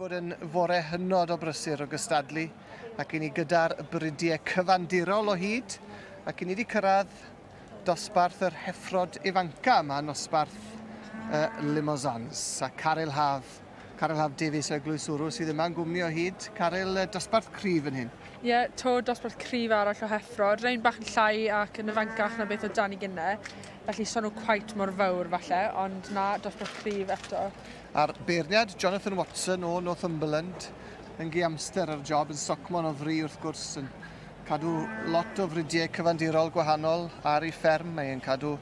bod yn fore hynod o brysur o gystadlu ac i ni gyda'r brydie cyfandirol o hyd ac i ni wedi cyrraedd dosbarth yr heffrod ifanca yma, nosbarth uh, Limosans a Caryl Haf. Caryl Haf Davies o Eglwys Wrw sydd yma'n gwmni o hyd. Caryl, uh, dosbarth cryf yn hyn. Ie, yeah, to dosbarth cryf arall o heffrod, rhain bach yn llai ac yn ifancach na beth o dan i gynnau. Felly so nhw cweit mor fawr falle, ond na, dosbarth cryf eto. A'r beirniad, Jonathan Watson o Northumberland, yn gi amster ar y job, yn socmon o fri wrth gwrs, yn cadw lot o fridiau cyfandirol gwahanol ar ei fferm. Mae e'n cadw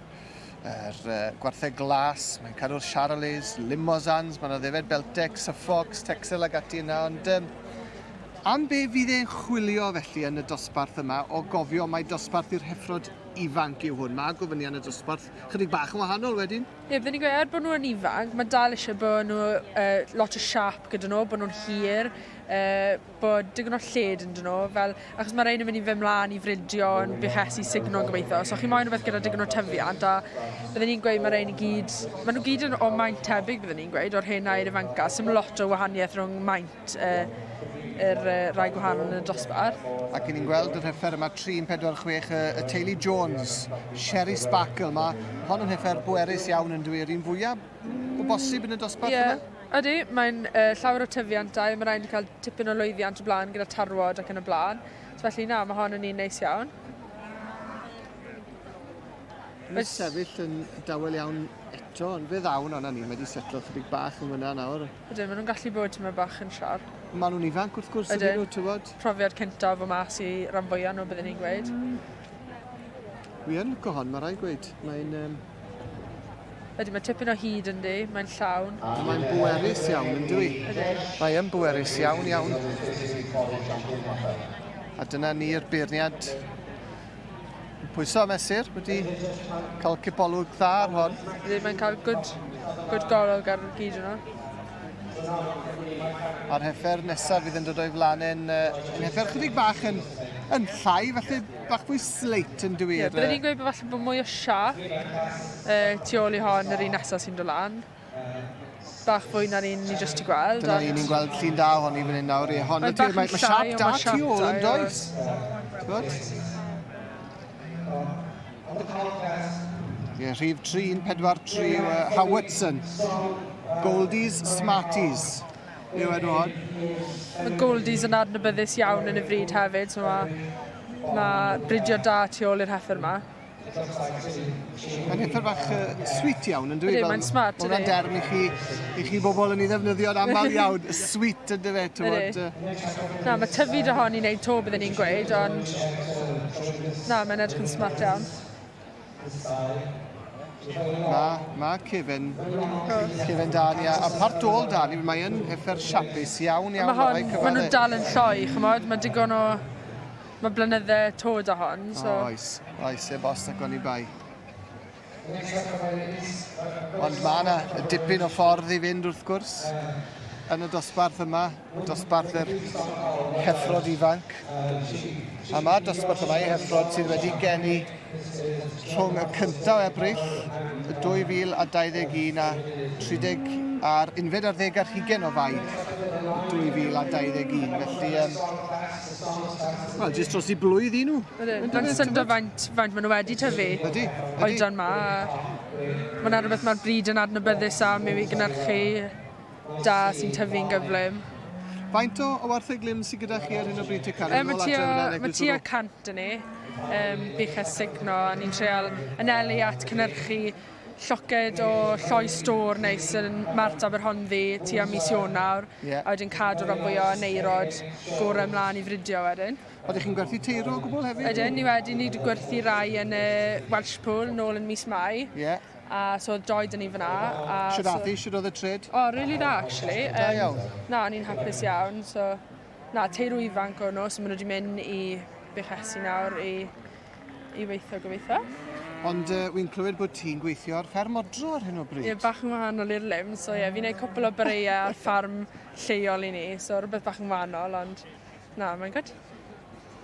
yr uh, gwartheg glas, mae'n cadw'r Charolais, Limosans, mae'n addefed Beltex, Suffolks, Texel ag ati yna, ond um, am be fydd e'n chwilio felly yn y dosbarth yma o gofio mae dosbarth i'r heffrod ifanc yw hwn. Mae gofynion y dosbarth chydig bach yn wahanol wedyn. Ie, byddwn i'n gweud, er bod nhw yn ifanc, mae dal eisiau bod nhw uh, lot o siap gyda nhw, bod nhw'n hir, uh, bod digon o lled yn nhw, fel, achos mae rhaid yn mynd i fy mlaen i fridio yn buches i signo yn gobeithio. So chi moyn rhywbeth gyda digon o tyfiant, a byddwn i'n gweud mae rhaid i gyd, maen nhw gyd yn o maint tebyg byddwn i'n gweud, o'r hen air ifanca, sy'n lot o wahaniaeth rhwng maint i'r rai gwahanol yn y dosbarth. Ac yn ni'n gweld y rheffer yma 346 y, y teulu Jones, Sherry Sparkle. Mae hon yn rheffer bwerus iawn yn dwi, yr un fwyaf o bosib yn y dosbarth yeah. yma? Ydy, mae'n uh, llawer o tyfiantau, mae rhaid i cael tipyn o lwyddiant o blaen gyda tarwod ac yn y blaen. So felly na, mae hon yn un neis iawn. Mae'n sefyll yn dawel iawn eto, ond fe ddawn o'na ni, mae wedi setlo chydig bach yn fyna nawr. Ydyn, maen nhw'n gallu bod tyma bach yn siarp. Maen nhw'n ifanc wrth gwrs ydyn nhw, tywod. Profiad cyntaf o mas i ran fwyaf nhw, byddwn i'n gweud. Mm. Wi yn licio hon, mae rai gweud. Mae'n um, Ydy, mae tipyn o hyd yn di, mae'n llawn. Mae'n bwerus iawn, yn dwi. Mae yn bwerus iawn, iawn. A dyna ni'r beirniad Pwyso a mesur, wedi cael cipolwg dda ar hon. Rydyn mae'n cael good, good golwg ar y gyd yno. A'r heffer nesaf fydd yn dod o'i flan yn uh, heffer chydig bach yn, yn llai, felly bach fwy sleit yn dwi. Ie, byddwn i'n gweud bod falle bod mwy o siarp uh, tu ôl i hon yr un nesaf sy'n dod lan. bach fwy na ni'n ni jyst ti gweld. Dyna ni, ni'n gweld llun da ohoni fan hyn nawr. Ie, hon, mae, mae, mae siap da tu ôl yn does. Gwyd? Ie, rhif 343 yw uh, Howardson. Goldies, Smarties. Yw enw hon. Mae Goldies yn adnabyddus iawn yn y fryd hefyd, so mae, mae bridio da tu ôl i'r heffer yma. Mae'n hithau bach uh, sweet iawn, yn dwi? Ydy, mae'n smart, ydy. Mae'n derm i chi, i chi bobl yn ei ddefnyddio'n aml iawn, sweet yn dyfe, tywod. Na, mae tyfu dy hon i wneud to byddwn ni'n gweud, ond... Na, mae'n edrych yn smart iawn. Mae ma cefen, cefen da ni, a part ôl da ni, mae'n effer siapus iawn iawn. Mae hon, maen nhw'n dal yn lloi, chymod, mae'n digon o Mae blynydde to da hon, so... O, oes, oes, heb os ac oni bai. Ond mae yna dipyn o ffordd i fynd wrth gwrs yn y dosbarth yma, dosbarth yr heffrod ifanc. A mae dosbarth yma i heffrod sydd wedi geni rhwng y 1 o Ebrill 2021 a 30 a'r unfed ar ddeg ar hugen o Fai 2021. Felly, um, wel, jyst dros i blwydd i nhw. Mae'n syndod faint, faint maen nhw wedi tyfu. Ydy. Oedran ma. Mae'n rhywbeth mae'r bryd yn adnabyddus am i fi gynnyrchu da sy'n tyfu'n gyflym. Faint o, o wartheglyn sydd gyda chi ar hyn o bryd te Karen? Um, mae tua, mae tua cant yn ni. Um, bych estigno, a ni'n treol yn elu at cynnyrchu lloced o lloi stor neis yn Mart Aberhonddu tua mis Ionawr yeah. a wedyn cadw ran fwy o neirod gore ymlaen i fridio wedyn. Oeddech chi'n gwerthu teiro o gwbl hefyd? Ydyn, ni wedi, ni wedi gwerthu rai yn y Welsh Pool nôl yn mis Mai. Yeah. A so oedd Joy dyn ni fyna. A Siwr so... Afi, siwr oedd y tred? O, oh, really da, actually. Um, da iawn. Na, o'n i'n hapus iawn. So, na, teirw ifanc o'n nhw, so maen nhw wedi mynd i Bechesi nawr i, i weithio gobeithio. Ond uh, wy'n clywed bod ti'n gweithio ar fferm odro ar hyn o bryd. Ie, yeah, bach yn wahanol i'r lym, so ie, yeah, fi'n gwneud cwpl o breiau ar ffarm lleol i ni, so rhywbeth bach yn wahanol, ond na, mae'n gwyd.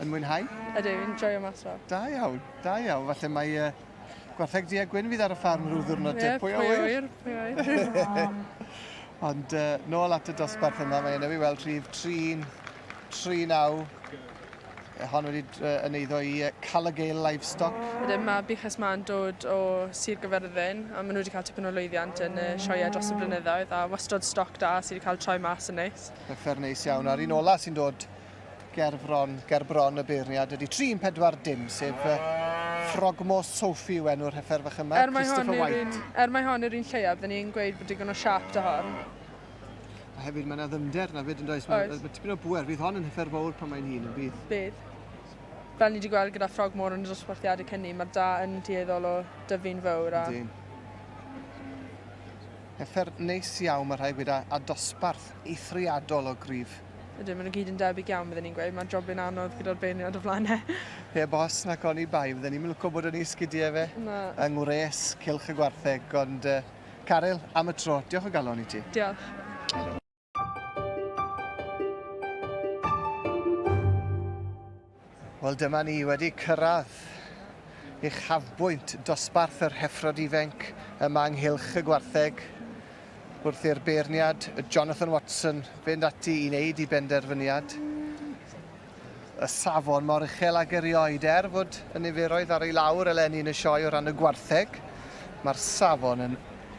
Yn mwynhau? Ydw, fi'n joio mas o. Da iawn, da iawn. Falle mae uh, Gwartheg du a gwyn fydd ar y ffarm rhyw ddwrnod te. Pwy a ŵyr? Pwy a ŵyr? Ond uh, nôl at y dosbarth yma, mae yna fi weld rhif 3, 3 naw. E, hon wedi uh, yn eiddo i uh, Calagail Livestock. Wedyn mae Buches Ma'n dod o Sir Gyferddin a maen nhw wedi cael tipyn o lwyddiant yn y sioia dros y blynyddoedd a wastod stoc da sydd wedi cael troi mas yn neis. Fe fer neis iawn. A'r un ola sy'n dod Ger bron, ger bron y beirniad ydy 3-4 dim, sef uh, Frogmos Sophie yw enw'r heffer fach yma, er Christopher White. Un, er mae hon yr un lleiaf, dyn ni'n gweud bod digon o siap da hon. A hefyd mae yna ddymder na fyd yn does, mae, mae tipyn o bwer, fydd hon yn heffer fawr pan mae'n hun yn bydd. Bydd. Fel ni wedi gweld gyda Frogmore yn y dosbarthiadau cynni, mae da yn dueddol o dyfu'n fawr. A... Dyn. Hyder neis iawn mae rhai gweda a dosbarth eithriadol o gryf. Ydyn, maen nhw gyd yn debyg iawn bydden i'n gweud, mae'r jobyn anodd gyda'r beirniad o flaen e. Heb os nac oni bai, fydden i'm yn lwco bod yn ei sgidie efe. Na. Yng ngwres cylch y gwartheg, ond yy, Caryl, am y tro, diolch o galon i ti. Diolch. Wel dyma ni wedi cyrraedd uchafbwynt dosbarth yr heffrod ifenc yma ynghylch y gwartheg wrth i'r beirniad Jonathan Watson fynd ati i wneud i benderfyniad. y safon mor uchel ag erioed. Er fod y niferoedd ar ei lawr eleni yn y sioe o ran y gwartheg, mae'r safon yn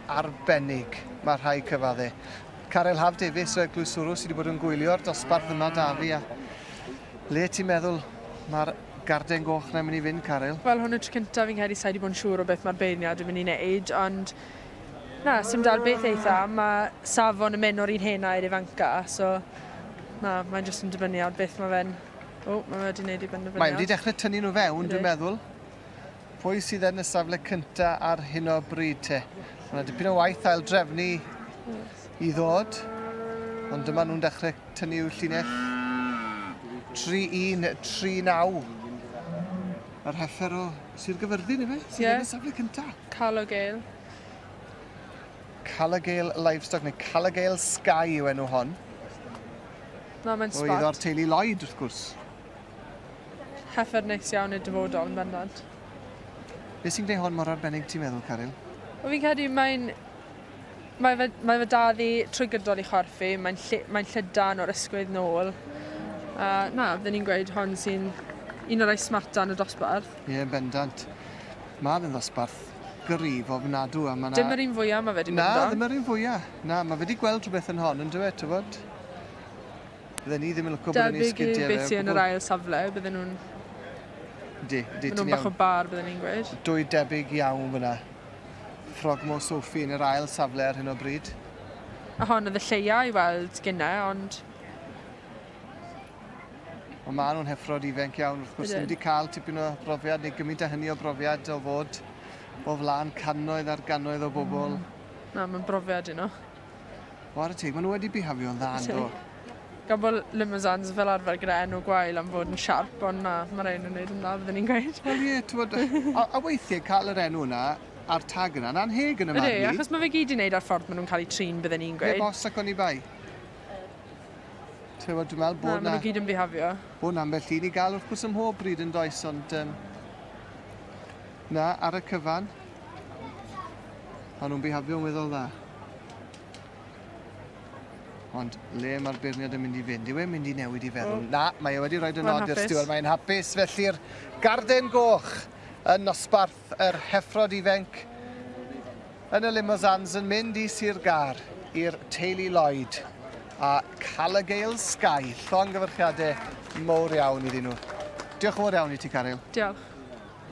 arbennig, mae rhai cyfadde. Caryl Haf Davies o Eglwys Suru sydd wedi bod yn gwylio'r dosbarth yma da fi a le ti'n meddwl mae'r garden goch na'n mynd i fynd, Caryl? Wel, hwn y tro cyntaf fi'n credu sai wedi bod yn siŵr o beth mae'r beirniad yn mynd i wneud, ond Na, sim dal beth eitha, mae safon y menwr i'n hen air ifanca, so na, mae'n jyst yn dibynnu ar beth mae fe'n... O, mae wedi gwneud ei benderfyniad. Mae wedi dechrau tynnu nhw fewn, dwi'n meddwl. Pwy sydd yn y safle cynta ar hyn o bryd te? Mae yna dipyn o waith ail drefnu i ddod, ond dyma nhw'n dechrau tynnu i'w llinell. 3-1, 3-9. Yr heller o Sir Gyfyrddin ife? Sydd yeah. yn y safle cynta? Calogale. Calogale Livestock neu Calogale Sky yw enw hon. Na, mae'n sbot. Oedd o'r teulu Lloyd, wrth gwrs. Heffer neis iawn i'r dyfodol, yn bendant. Beth sy'n gwneud hon mor arbennig, ti'n meddwl, Caryl? O, fi'n credu mae'n Mae fy, mae fy dad i trwy gydol ei chorff i, mae'n lle, mae'n llydan o'r ysgwydd nôl. A na, fydden ni'n gweud hon sy'n un o'r rhai smarta yn y dosbarth. Ie, yn bendant. Ma' fe'n ddosbarth gryf ofnadw a ma' 'na... Dim yr un fwya ma' fe 'di mynd amdan. Na, ddim yr un fwya. Na, ma' fe 'di gweld rhwbeth yn hon yndyw e, t'wod? Fydden ni ddim yn lwco bod e'n ei sgidie fe o gwbwl. Debyg i beth sy yn yr ail safle, bydden nhw'n... Yndi, yndi, ti'n iawn. Ma' nhw'n bach o bar, bydden ni'n gweud. Dwy debyg iawn fynna. Frogmore Sophie yn yr ail safle ar hyn o bryd. A hon oedd y lleia i weld gynne, ond... Ond maen nhw'n heffrod ifenc iawn, wrth gwrs, ddim wedi cael tipyn o brofiad neu gymryd a hynny o brofiad o fod o flaen cannoedd ar gannoedd o bobl. Mm. Na, mae'n brofiad i nhw. Ware teg, maen nhw wedi bihafio'n dda yndo? Gan bod Limousanes fel arfer gyda enw gwael am fod yn siarp, ond na, mae'r rhain yn neud yn dda byddwn i'n gweud. Wel ie, t'mod, a, a weithiau cael yr enw yna a'r tag yna, yn anheg yn y marn i. Ydy, achos mae fe gyd i wneud â'r ffordd maen nhw'n cael eu trin byddwn i'n gweud. Heb os ac oni bai. T'mod, dwi'n meddwl bod na... Na, maen nhw gyd yn bihafio. Bod na ambell un i gael wrth gwrs ym mhob bryd yn does, ond um, na, ar y cyfan, O'n nhw'n bihabio'n weddol dda. Ond le mae'r beirniad yn mynd i fynd? Yw e'n mynd i newid i feddwl? Oh. Na, mae e wedi rhoi dy nod i'r stiwr, mae'n hapus. Felly'r garden goch yn nosbarth yr heffrod ifenc yn y Limosans yn mynd i Sir Gar i'r teulu Lloyd a cael y gael Sky. Llongyfarchiadau mowr iawn iddyn nhw. Diolch yn fawr iawn i ti, Caryl. Diolch.